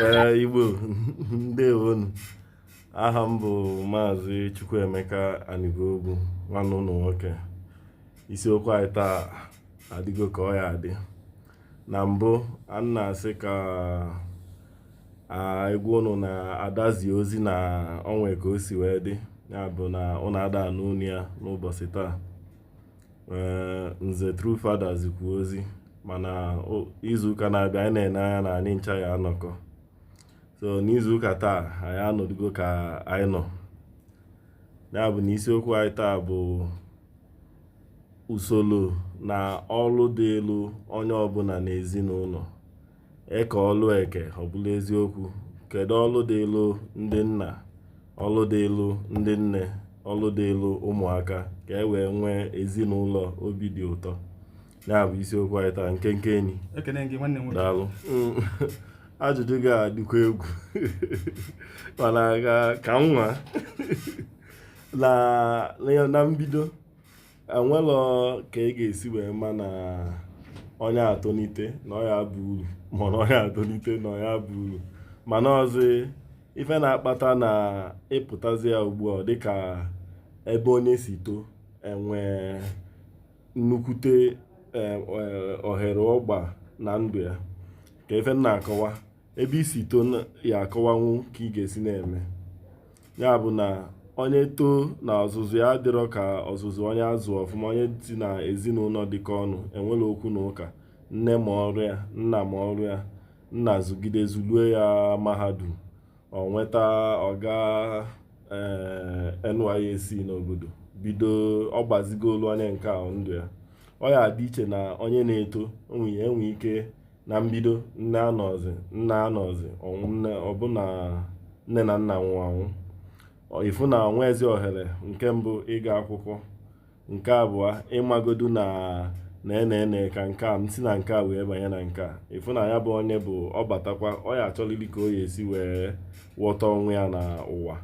ee igbo ndewonu aha m bụ maazị chukwuemeka anigogwu nwanne unu nwoke isiokwu anyị taa adịgo ka ọ ya-adị na mbụ a na-asị ka a gwa unu na ada zi ozi na o nwe ka o si wee dị ya bụ na unu ada anụ onu ya n'ụbọsị taa nze True Father zikwu ozi mana izuụka na-abịa anyị na-ene anya na anyị ncha ya-anọkọ so n'izuụka taa anyị anọdụgo ka anyị nọ ya bụ na isiokwu anyị taa bụ Usoro na ọrụ dịịlụ onye ọbụla n'ezinụlọ. E kee ọrụ eke, ọ bụlụ eziokwu. Kedu ọrụ dịịlụ ndị nna, ọrụ dịịlụ ndị nne, ọrụ dịịlụ ụmụaka ka e wee nwee ezinụlọ obi dị ụtọ? Ya bụ isiokwu anyị taa, nkenke enyi. Ekene gị nwanne m nwoke. Daalụ. Ajụjụ gị a dịkwa egwu mana ka ka m nwa na na- na mbido enwelọ ka ị ga-esi wee ma na onye a tolite na ọ ya-aba uru ma na onye a tolite na ọ ya-aba uru mana ọzọ ife na-akpata na ị pụtazịa ugbu a dịka ebe onye si too enwe nnukwute eh, eh, ohere ọ gba na ndụ ya ka ife m na-akọwa ebe i si too ya-akọwanwu ka ị ga-esi na-eme ya bụ na onye too na ọzụzụ ya adịrọ ka ọzụzụ onye a zụ ọfụma onye si na ezinụlọ dịkọ ọnụ enwerọ okwu na ụka nne ma ọrụ ya nna ma ọrụ ya nna zụgide zụluo ya mahadum o nweta ọ gaa eh, NYSC n'obodo bido ọ gbazigolu onye nke ahụ ndụ ya ọ ya-adị iche na onye na-eto enwe ike na mbido nne anọzị nna anọzị ọnwụ nne ọ bụ na nne na nna nwụrụ anwụ ị fụ na o nweezi ohere nke mbụ ịga akwụkwọ nke abụọ ịmagodu na na-ene ka nke a si na nke a wee banye na nke a ị fụ na ya bụ onye bụ ọ batakwa ọ ya-achọlili ka ọ ya-esi wee ghọta onwe ya na ụwa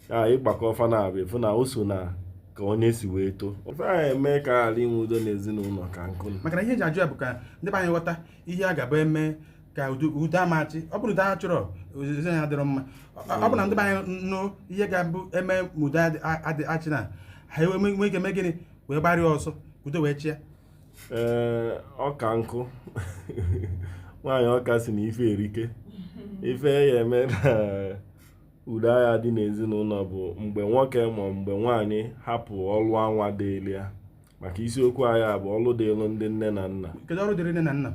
ya ị gbakọọ fa naabọ ị fụ na o so na ka onye si wee too ife ya-eme ka a ghara inwe udo n'ezinụlọ ka nkụ maka na ihe e ji ajụ ya bụ ka ndị be anyị ghọta ihe a ga-abụ eme ka udo ama achị ọ bụrụ udo a chọrọ ozizi anyị adịrọ mma ọ bụ na ndị be anyị nụ ihe ga-abụ eme ma udo adị achị na ha ewe nwee ike mee gịnị wee gbaara ya ọsọ udo wee chịa ee ọka nkụ nwaanyị ọka sị na ife erika ife ya-eme na udo agha dị n'ezinụlọ bụ mgbe nwoke ma mgbe nwaanyị hapụ ọlụ anwa dịịrị ya maka isiokwu anyị bụ ọlụ dịịrụ ndị nne na nna kedu ọrụ dịrị nne na nna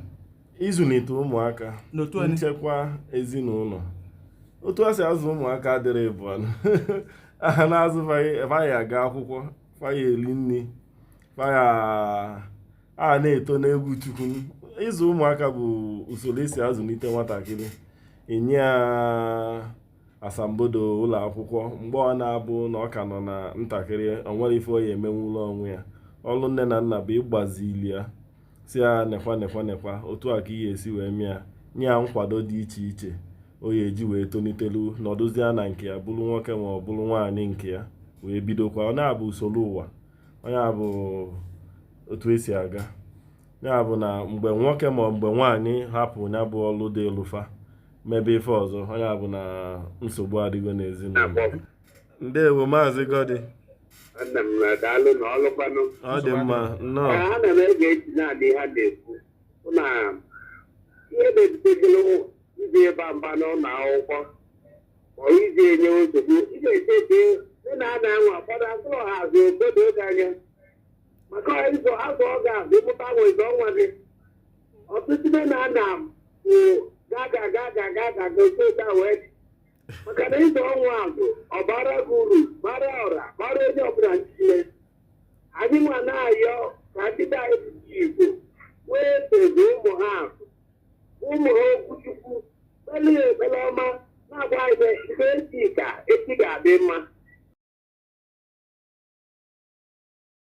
ịzụlite ụmụaka nchekwa ezinụlọ otu a si azụ ụmụaka adịrị bụ aha na-azụ fa ya-aga akwụkwọ fa ya-eri nri fa ya a na-eto n'egwu Chukwu ịzụ ụmụaka bụ usoro esi azụlite nwatakịrị enye ya asambodo ụlọ akwụkwọ mgbe ọ na-abụ na ọ ka nọ na ntakịrị o nwerọ ife ọ ya-emenwulu onwe ya ọrụ nne na nna bụ ịgbazili ya sị ya nekwa nekwa nekwa otu a ka ị ya-esi wee mee ya nye ya nkwado dị iche iche ọ ya-eji wee tolitelu nọdụzie na nke ya bụrụ nwoke ma ọ bụrụ nwaanyị nke ya wee bidokwa ọ na-abụ usoro ụwa ọ nya bụ otu esi aga nya bụ na mgbe nwoke ma mgbe nwaanyị hapụ nya bụ ọlụ dịịlụ fa mebe ife ọzọ ọ nya bụ na nsogbu adịgo n'ezinụlọ ndewo Maazị Godi ọ dị mma nnọọ iji ịba mba n'ụlọ akwụkwọ ma iji enye nsogbu ị ga-eche eche ndị nne na nna anwa ụfọdụ azụrọ ha azụ obodo oge anya maka ịzụ azụ ọ ga-azụ ị mụta nwa ị zụọ nwa gị ọtụtụ ndị nne na nna bụ gaga gaga gaga gosi ụta wee dị. maka na ị zụọ nwa azụ ọ bara gị uru bara ọra bara onye ọbụla niile anyị nwa na-ayọ ka ndị be anyị bụ ndị Igbo wee teta zụọ ụmụ ha azụ ụmụ ha okwu Chukwu kpeelu ya ekpere ọma na-agwa anyị na ihe echi ka echi ga-adị mma